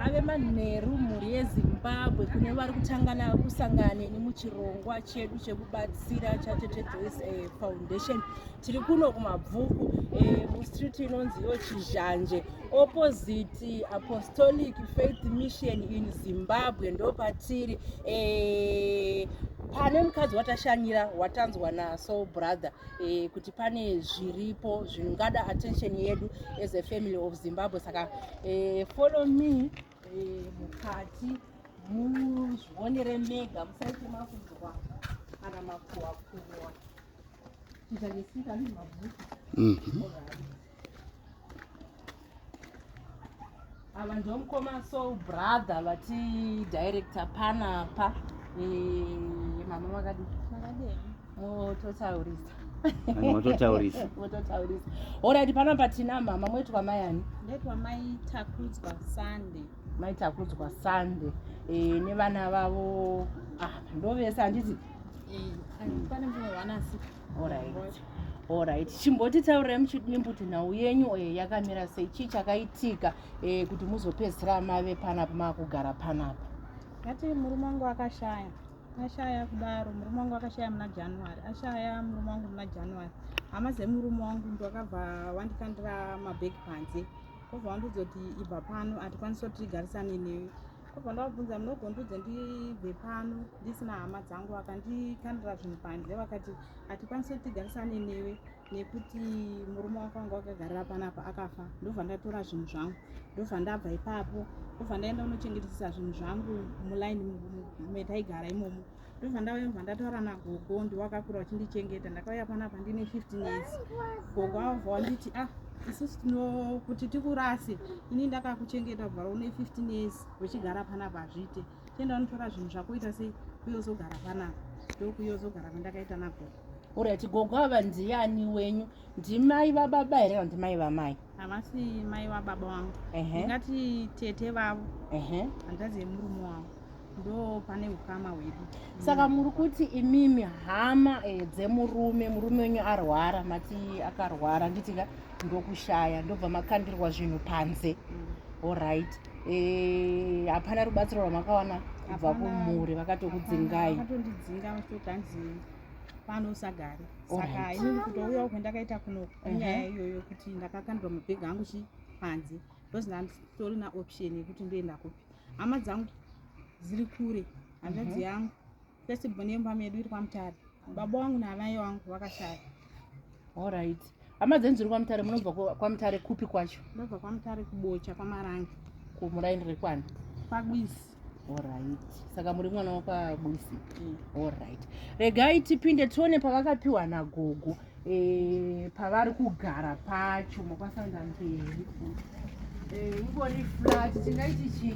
ave manheru mhuri yezimbabwe kune vari kutangana kusangane nemuchirongwa chedu chekubatsira chatete joyce eh, foundation tiri kuno kumabvuku eh, mustreet inonzi yo chizhanje opposite apostolic faith mission in zimbabwe ndo patiri eh, pane mukadzi watashanyira watanzwa naso brother eh, kuti pane zviripo zvingada attention yedu as a family of zimbabwe saka eh, follow me eh, mukati muzvionere mega musaite makunzwa kana makuwa kuwa chiita nesika ndi mabhuku mhm. ava ndo mukoma so brother vati director panapa eh, mama vakadii mototaurisa mototaurisa mototaurisa orit pano patina mama mweti kwamai ani ndetwamaitakudzwa sunday maitakudzwa sunday e, eh, nevana vavo ah, ndovese handiti orit chimboti taurai muchidimbuti nhau yenyu eh, yakamira sei chii chakaitika eh, kuti muzopedzisira mave panapa makugara panapa ngati murume wangu akashaya ashaya kudaro murume wangu akashaya muna january ashaya murume wangu muna january hama dzemurume wangu ndokabva wandikandira mabheki panze kobva wandiudza kuti ibva pano hatikwanisi kuti tigarisane newe kobva ndavabvunza munogondiudza ndibve pano ndisina hama dzangu vakandikandira zvinhu panze vakati hatikwanisi kuti tigarisane newe nekuti murume wako wanga wakagarira panapa akafa ndobva ndatora zvinhu zvangu ndobva ndabva ipapo ndobva ndaenda unochengetesesa zvinhu zvangu mulaini metaigara imomo ndobva ndauya bva ndataura nagogo ndiwakakura uchindichengeta ndakauya panapa ndine 15 years gogo avabva wanditi ah isusu tinokuti tikurase ini ndakakuchengeta bvaro une 15 years uchigara panapa hazviite chienda unotora zvinhu zvako uita sei kuyozogara panapa ndokuyozogara kwandakaita nagogo orati gogo ava ndiani wenyu ndimai vababa here kana ndimai vamai havasi mai vababa vangu ingati tete vavo handazi yemurume wavo ndo pane ukama hwedu saka mm. muri kuti imimi hama eh, dzemurume murume wenyu arwara mati akarwara nditika ndokushaya ndobva makandirwa zvinhu panze mm. oright Eh, hapana rubatsiro rwamakawana kubva kumhuri vakatokudzingai vakatondidzinga vachitoti hanzi pano usagare saka inini kutouyawo kwendakaita kuno inyaya mhm. iyoyo kuti ndakakandwa mabhegi angu chi panze ndozi ndanditori naoption yekuti ndoenda kupi hama dzangu dziri kure hanzvadzi mhm. yangu First born yemba medu iri kwaMutare. Baba wangu naamai wangu vakashaya. All right. Hama dzenyu dziri kwaMutare munobva kwaMutare kupi kwacho? Ndobva kwaMutare kuBocha kwaMarange. Kumuraini rekwani? KwaGwisi. All right. Saka muri mwana wakwaGwisi. Mm. All right. Regai tipinde tione pavakapiwa nagogo. Eh, pavari kugara pacho makwasanda mberi. Eh, ingori flat tingaiti chii?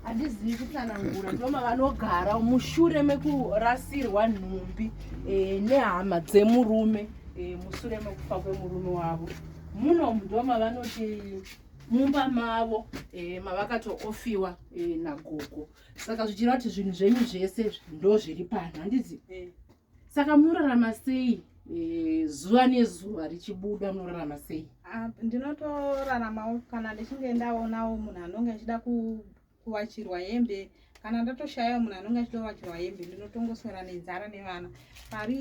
handizivi kutsanangura ndoma vanogara mushure mekurasirwa nhumbi eh, nehama dzemurume eh, mushure mekufa kwemurume wavo muno ndoma vanoti mumba mavo eh, mavakatoofiwa nagogo saka zvichireva kuti zvinhu zvenyu zvese ndozviri pano handizivi saka munorarama sei e, zuva nezuva richibuda munorarama sei ah, ndinotoraramawo kana ndichinge ndaonawo munhu anonge achida kuvachirwa hembe kana ndatoshayawo munhu anonge achida kuvachirwa hembe ndinotongoswera nenzara nevana pari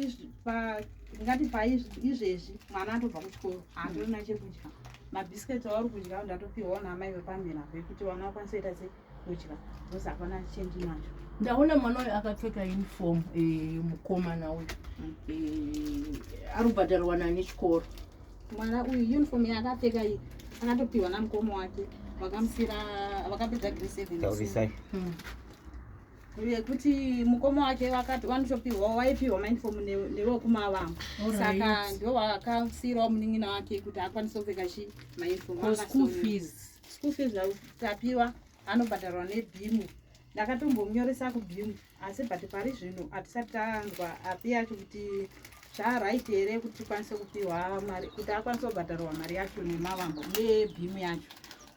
ngati paizvezvi mwana atobva kuchikoro handirina chekudya mabhisiketi auri kudya ndatopiwawo naamai vepamhera vekuti vana vakwanisa kuita sei kudya because hapana change nacho ndaona mwana uyu akapfeka uniform eh, mukomana uyu mm. eh, ari kubhadharwa nani chikoro mwana uyu uniform yaakapfeka iyi akatopiwa namukomo wake vakamusira vakapedza gre seven hmm. yekuti mukomo wake vakati vanotopiwawo waipiwa mauniform newekumavamo saka ndiwo vakasiyirawo munin'ina wake kuti akwanise kupfeka chi mauniform school fees school fees tapiwa anobhadharwa nebhimu ndakatombonyoresa kubhimu asi but pari zvino hatisati tanzwa api yacho kuti zvaright here kuti tikwanise kupiwa mari kuti akwanise kubhadharwa mari yacho nemavambo nebhimu yacho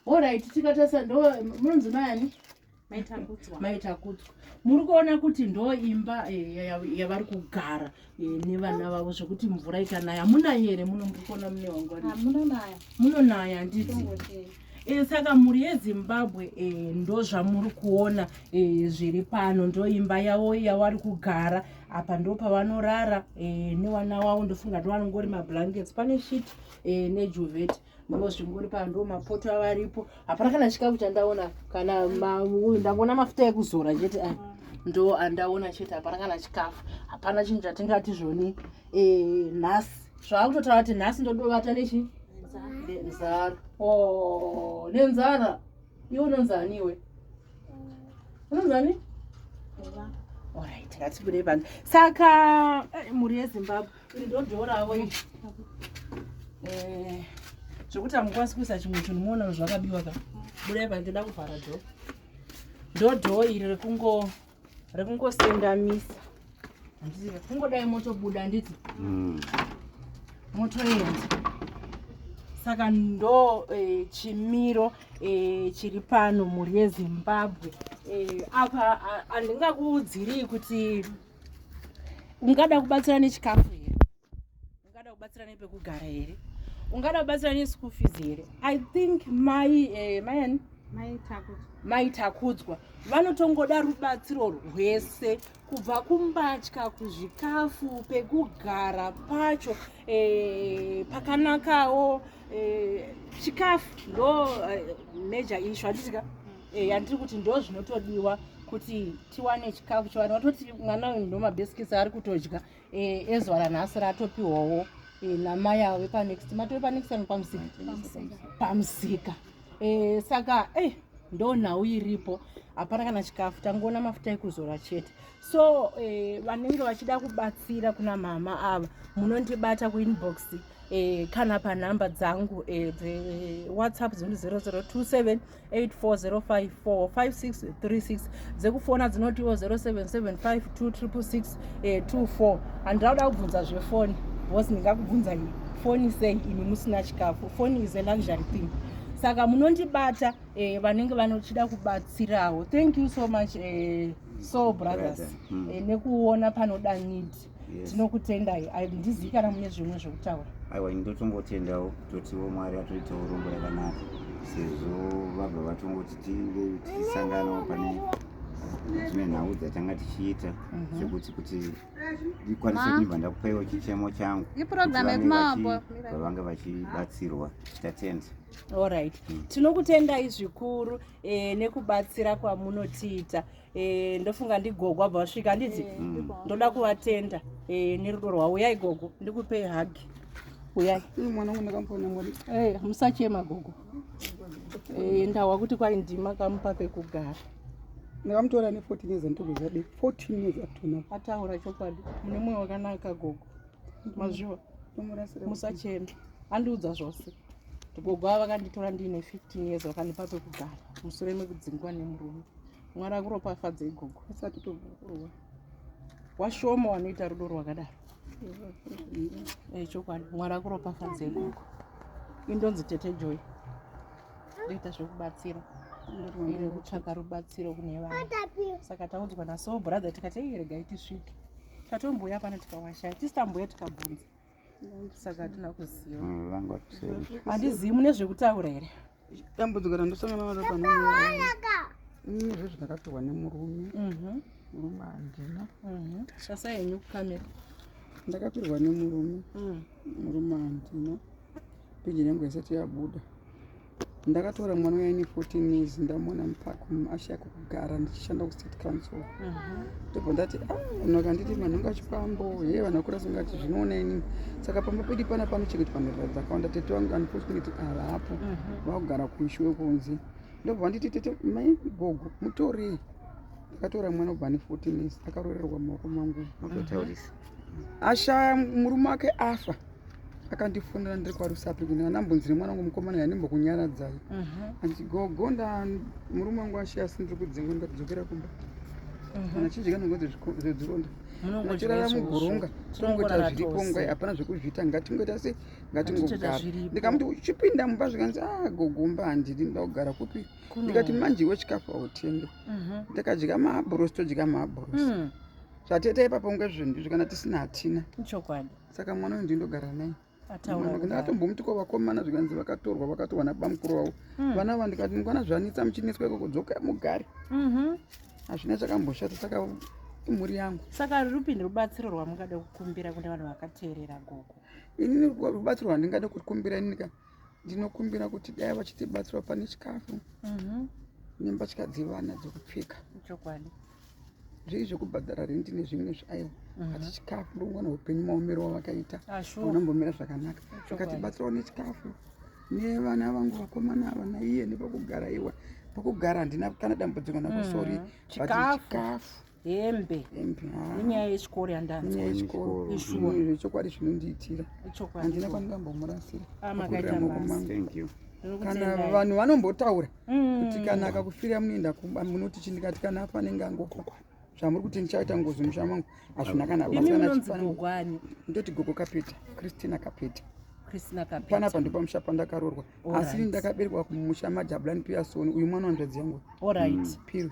orit tikatarisa ndo munonzi maani maitakudzwa muri kuona kuti ndo imba eh, yavari kugara eh, nevana vavo zvekuti mvura ikanaya munayi here muno muri kuona mune wangu munonaya handiti Eh, saka mhuri yezimbabwe eh, ndo zvamuri kuona eh, zviri pano ndo imba yavo yawari kugara apa ndo pavanorara newana wavo ndofunga ndiwanongori mablankets pane shit nejuveti ndozvinguri pano ndo mapoto avo aripo hapana kana chikafu chandaona kana ndangoona mafuta ekuzora chete aya ndo andaona chete hapana kana chikafu hapana chinhu chatingati zvoni eh, nhasi zvaakutotaura kuti nhasi ndodovata nechi nenzara oh, nenzara iwe unonzani iwe unonzani orit ngatibudei pano saka eh, mhuri yezimbabwe Eh, zvekuti hamukwanisi kuisa chimwe chinhu muona zvakabiwa ka budai pandida kuvhara dho ndodhoo iri rekungo rekungosendamisa handiti rekungodai motobuda handiti mm. motoenda saka ndo e, chimiro e, chiri pano mhuri yezimbabwe e, apa handingakuudzirii kuti ungada kubatsira nechikafu here ungada kubatsira nepekugara here ungada kubatsira neschool fees here i think mai eh, mayani mai takudzwa vanotongoda rubatsiro rwese kubva kumbatya kuzvikafu pekugara pacho e, pakanakawo eh, chikafu e, ndo e, major ishu handitika e, yandiri kuti ndo zvinotodiwa kuti tiwane chikafu chiwane watoti mwana uyu ndomabeskits ari kutodya eh, ezuva ranhasi ratopiwawo eh, namai avo vepanext mati vepanext ano pamusika pamusika eh, saka e ndo nhau iripo hapana kana chikafu tangoona mafuta ekuzora chete so vanenge vachida kubatsira kuna mama ava munondibata kuinbox kana panhamba dzangu dzewhatsapp dziri 0027 840545636 dzekufona dzinotiwo 07752624 handida kuda kubvunza zvefoni bcause ndingakubvunza iyi foni sei imi musina chikafu foni is a luxury thing saka munondibata eh, vanenge vanochida kubatsirawo thank you so much eh, soul brothers eh, nekuona panoda need yes. tinokutendai handizii kana mune zvimwe zvekutaura aiwa ini ndotombotendawo totiwo mwari atoitawo rombo yakanaka sezvo vabva vatongoti tinge tichisanganawo pane dzimwe nhau dzatanga tichiita mhm. zvekuti kuti ndikwanise kuibva ndakupaiwo chichemo changu vavange vachibatsirwa tatenda allright mm. tinokutendai zvikuru eh, nekubatsira kwamunotiita Eh, ndofunga ndigogo abva vasvika anditi eh, mm. ndoda kuvatenda eh, nerudo rwavo uyai gogo ndikupei hagi uyai musachema gogo ndahwa kuti kwai ndima kamupa pekugara ndakamutora ne 14 years anditogo zvadi 14 years atona ataura chokwadi mune mwoyo wakanaka gogo mazviwa musachema andiudza zvose gogo ava vakanditora ndiine 15 years vakandipa pekugara musure mekudzingwa nemurume mwari akuropafadza igogo asati togokorwa washoma wanoita rudo rwakadaro eh, chokwadi mwari akuropafadza igogo indonzi tete joy ndoita zvekubatsira iri kutsvaka rubatsiro kune vana saka taudzwa naso brother tikati iregai tisvike tatombouya pano tikawashaya tisitambuya tikabvunza saka hatina kuziva mm, vanga vatuseri handizivi mune zvekutaura here dambudziko randosangana naro panoaka mm, zve zvandakapiwa nemurume mhm. murume handina mhm. shasa yenyu kukamera ndakapirwa nemurume mm. murume handina peji yangu yasati yabuda ndakatora mwana uya ine 14 years ndamuona mupark ashaya kugara ndichishanda kustate council ndobva ndati ah, vanhu vakanditi vanhu vanga chipambo he vanhu vakura singati zvinoona ini saka pamba pedi pana panochengetwa nherera dzakawanda tete vangu unfortunately havapo vakugara kuishuwe kunze ndobva vanditi tete mai gogo mutorei ndakatora mwana ubva ane 14 years akaroererwa maoko mangu ashaya murume wake afa akandifonera ndiri kwarusapi kuti andambonzire mwana wangu mukomana yandimbokunyaradzai andi mhm. gogo nda murume wangu ashiya asi ndiri kudzingwa ndikadzokera kumba mhm. kana chinji kana ngozi zvedzironda nachirara mugoronga tinongoita zviripo ngai hapana zvekuzviita ngatingoita se ngatingogara ndikamuti uchipinda mumba zvikanzi a ah, gogomba handidi nda kugara kupi ndikati manje iwe chikafu autenge mhm. ndakadya maabhurosi todya maabhurosi hmm. zvateta ipapo nge zvinhu izvi kana tisina hatina ichokwadi saka mwana uyu ndindogara naye ndatombomuti ko vakomana zvikanzi vakatorwa vakatorwa nabamukuru vavo hmm. vana va ndikati mukwana zvanitsa muchineswa ikoko dzoka mugari mhm. hazvina chakamboshata saka imhuri yangu saka rupi nerubatsiro rwamungada kukumbira kune vanhu vakateerera gogo inini rubatsiro rwandingada kukumbira inini ka ndinokumbira kuti dai vachitibatsira pane chikafu mhm. nembatya dzevana dzekupfeka chokwadi zvii zvekubhadhara rendi nezvimwe zvaiwa mhm. ati chikafu ndongona upenyu maomero wavakaita ah, unambomira zvakanaka vakatibatsirawo nechikafu nevana vangu vakomana ava naiye nepakugara iwa pakugara handina kana dambudziko nakusori mhm. chikafu hembe nenyaya yechikoro yandanzwachokwadi zvinondiitira handina kwandingambomurasira kana vanhu vanombotaura mm. kuti kana akakufira munoenda kumba munoti chi ndikati kana afa anenge angofa zvamuri kuti ndichaita ngozi musha mangu hazvina kana ndoti gogo kapeta christina kapeta panapa ndipo musha pandakarorwa asi ndakaberekwa kumusha majabulani piyasoni uyu mwana wanzvadzi yangu mm. piro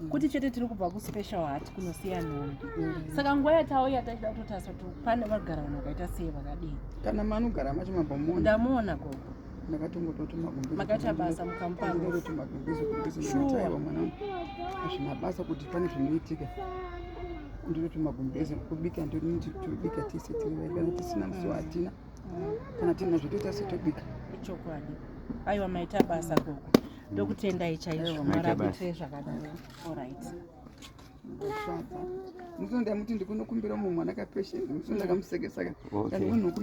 Mm. kuti chete tiri kubva kuspecial hat kunosiya nhombi mm. saka nguva yatauya tachida kutotarisa kuti pane vagara vanhu vakaita sei vakadii kana manogara macho mabamona ndamuona gogo ndakatongototumakaita basa mukamuazvina basa kuti pane zvinoitika ndinoti magumbeze kubika ndoniti tobika tese tirivaibana tisina musi wahatina mm. kana tinazvo toita setobika ichokwadi aiwa maita basa gogo ndokutendai chaizvo murabitwe zvakadaro orit musi ndamuti ndikunokumbira mumwe mwana kapesheni musi ndakamusekesaka